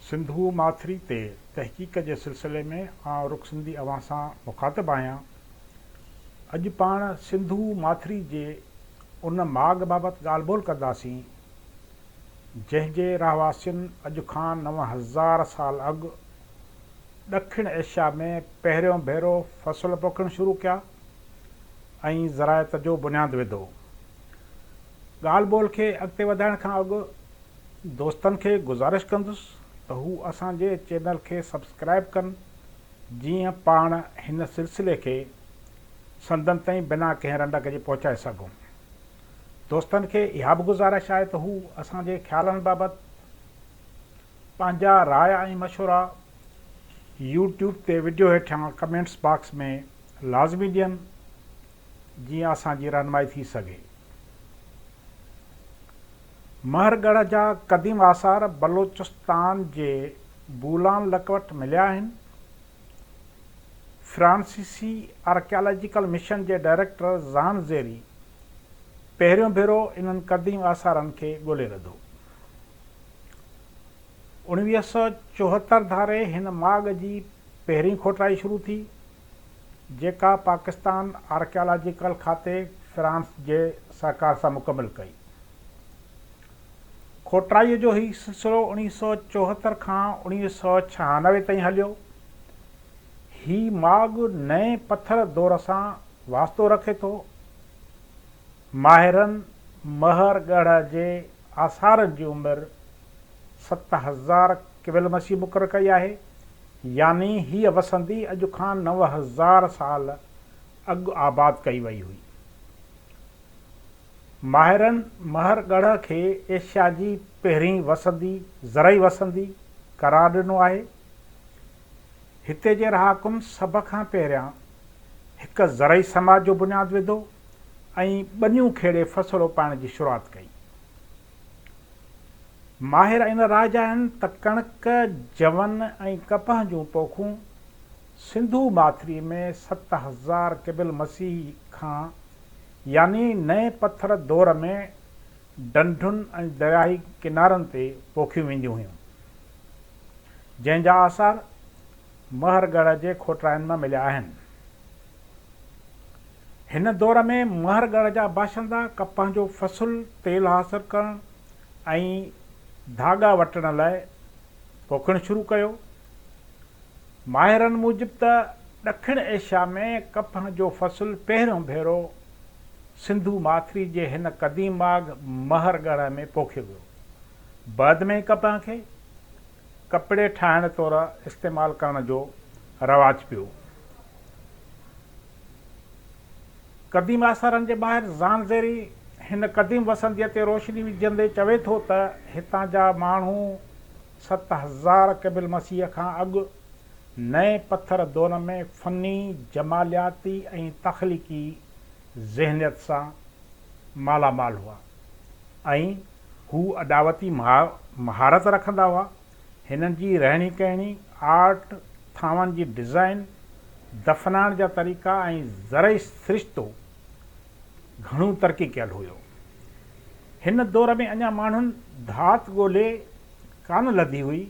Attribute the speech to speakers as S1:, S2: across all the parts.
S1: سنڌوء ماٿري تي تحقيق جي سلسلي ۾ آئون رخ سنڌي اوهان سان مخاطب آهيان. اڄ پاڻ سنڌوء ماٿري جي ان ماڳ بابت ڳالهه ٻولهه ڪنداسين، جنهن جي رهواسين اڄ کان نو هزار سال اڳ ڏکڻ ايشيا ۾ پهريون ڀيرو فصل پوکڻ شروع ڪيا. ۽ زراعت جو بنياد وڌو. ڳالهه ٻولهه کي اڳتي وڌائڻ کان اڳ دوستن کي گذارش ڪندس ته هو اسان جي چينل کي سبسڪرائيب ڪن جيئن پاڻ هن سلسلي کي سنڌن تائين بنا ڪنهن رنڊڪ جي پهچائي سگهون. دوستن کي اها به گذارش آهي ته هو اسان جي خيالن بابت پنهنجا راء ۽ مشورا يوٽيوب تي وڊيو هيٺيان ڪمينٽس باڪس ۾ لازمي ڏين جيئن اسان جي رهنمائي ٿي سگهي. مهر ڳڙهه جا قديم آثار بلوچستان جي بولان لڪ وٽ مليا آهن. فرانسيسي آرڪيالاجيڪل مشن جي ڊائريڪٽر زان زيري پهريون ڀيرو انهن قديم آثارن کي ڳولي لڌو. اوڻويهه سؤ چوهتر ڌاري هن ماڳ جي پهرين کوٽائي شروع ٿي. جيڪا پاڪستان آرڪيالاجيڪل کاتي فرانس جي سهڪار سان مڪمل ڪئي. کوٽرائيء جو هي سلسلو اڻيهه سؤ چوهتر کان اڻيهه سؤ ڇهانوي تائين هليو. هي ماڳ نئين پٿر دور سان واسطو رکي ٿو. ماهرن مهر ڳڙهه جي آثارن جي عمر ست هزار قبل مسيح مقرر ڪئي آهي، يعني هيء وسندي اڄ کان نو هزار سال اڳ آباد ڪئي وئي هئي. ماهرن مهر ڳڙهه کي ايشيا جي پهرين وسندي، زرعي وسندي، قرار ڏنو آهي. هتي جي رهاڪن سڀ کان پهريان هڪ زرعي سماج جو بنياد وڌو ۽ ٻنيون کيڙي فصل اپائڻ جي شروعات ڪئي. ماهر ان راء جا آهن ته ڪڻڪ، جون ۽ ڪپهه جون پوکون سنڌو ماٿري ۾ ست هزار قبل مسيح کان يعني نئين پٿر دور ۾ ڍنڍن ۽ درياهي ڪنارن تي پوکيون وينديون هيون، جنهن جا آثار مهر ڳڙهه جي کوٽراين مان مليا آهن. هن دور ۾ مهر ڳڙهه جا باشندا ڪپهه جو فصل تيل حاصل ڪرڻ ۽ ڌاڳا وٽڻ لاء پوکڻ شروع ڪيو. ماهرن موجب ته ڏکڻ ايشيا ۾ ڪپهه جو فصل پهريون ڀيرو سنڌو ماٿري جي هن قديم ماڳ مهر ڳڙهه ۾ پوکيو ويو. بعد ۾ ڪپهه کي ڪپڙي ٺاهڻ طور استعمال ڪرڻ جو رواج پيو. قديم آثارن جي ٻاهر زانزيري هن قديم وسنديء تي روشني وجهندي چوي ٿو ته هتان جا ماڻهو ست هزار قبل مسيح کان اڳ نئين پٿر دور ۾ فني، جمالياتي ۽ تخليقي ذهنيت سان مالا مال هئا ۽ هو اڏاوتي مهارت رکندا هئا. هنن جي رهڻي ڪهڻي، آرٽ، ٿانون جي ڊزائين، دفنائڻ جا طريقا ۽ زرعي سرشتو گهڻو ترقي ڪيل هيو. هن دور ۾ اڃا ماڻهن ڌات ڳولي ڪانه لڌي هئي،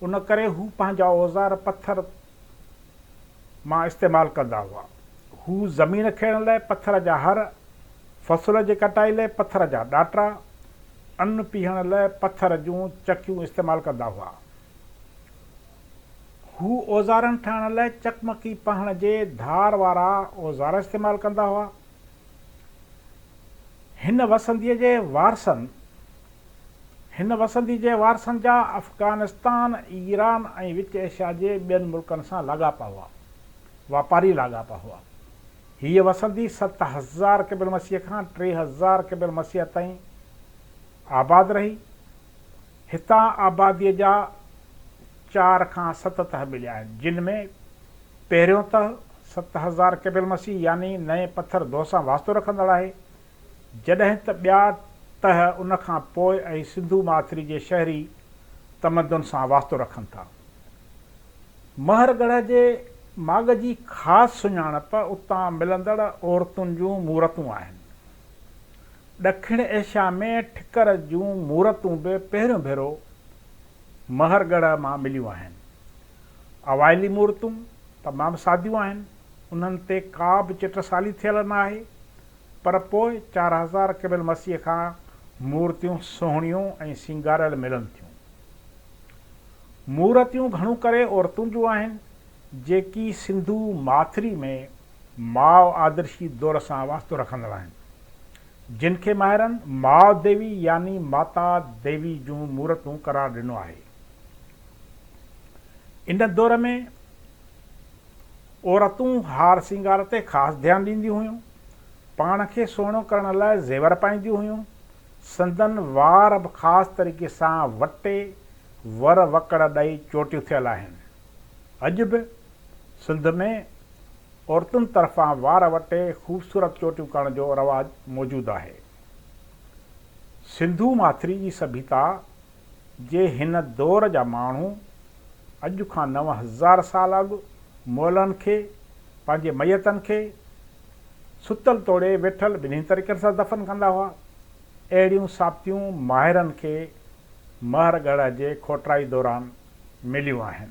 S1: ان ڪري هو پنهنجا اوزار پٿر مان استعمال ڪندا هئا. هو زمين کيڙڻ لاء پٿر جا هر، فصل جي ڪٽائي لاء پٿر جا ڏاٽرا، ان پيهڻ لاء پٿر جون چڪيون استعمال ڪندا هئا. هو اوزارن ٺاهڻ لاء چقمقي پهڻ جي ڌار وارا اوزار استعمال ڪندا هئا. هن وسنديء جي وارثن هن وسندي جي وارثن جا افغانستان، ايران ۽ وچ ايشيا جي ٻين ملڪن سان لاڳاپا هئا. واپاري لاڳاپا هئا. هيء وسندي ست هزار قبل مسيح کان ٽي هزار قبل مسيح تائين آباد رهي. هتان آباديء جا چار کان ست تهه مليا آهن، جن ۾ پهريون تهه ست هزار قبل المسيح يعني نئين پٿر دوه سان واسطو رکندڙ آهي، جڏهن ته ٻيا تهه ان کان پوء ۽ سنڌو ماٿري جي شهري تمدن سان واسطو رکن ٿا. مهر ڳڙهه جي ماڳ جي خاص سڃاڻپ اتان ملندڙ عورتن جون مورتون آهن. ڏکڻ ايشيا ۾ ٺڪر جون مورتون به پهريون ڀيرو مهر ڳڙهه مان مليون آهن. اوائلي مورتون تمام ساديون آهن، انهن تي ڪا به چٽسالي ٿيل نه آهي، پر پوء چار هزار قبل مسيح کان مورتيون سهڻيون ۽ سينگاريل ملن ٿيون. مورتيون گهڻو ڪري عورتن جون آهن، جيڪي سنڌو ماٿري ۾ ماء آدرشي دور سان واسطو رکندڙ آهن، جن کي ماهرن ماء ديوي يعني ماتا ديوي جون مورتون قرار ڏنو آهي. ان دور ۾ عورتون هار سينگار تي خاص ڌيان ڏينديون هيون، پاڻ کي سهڻو ڪرڻ لاء زيور پائينديون هيون، سندن وار به خاص طريقي سان وٽي ور وڪڙ ڏئي چوٽيون ٿيل آهن. اڄ به سنڌ ۾ عورتن طرفان وار وٽي خوبصورت چوٽيون ڪرڻ جو رواج موجود آهي. سنڌو ماٿري جي سڀيتا جي هن دور جا ماڻهو اڄ کان نو هزار سال اڳ مئلن کي پنهنجي ميتن کي ستل توڙي ويٺل ٻنهي طريقن سان دفن ڪندا هئا. اهڙيون ثابتيون ماهرن کي مهر ڳڙهه جي کوٽرائي دوران مليون آهن.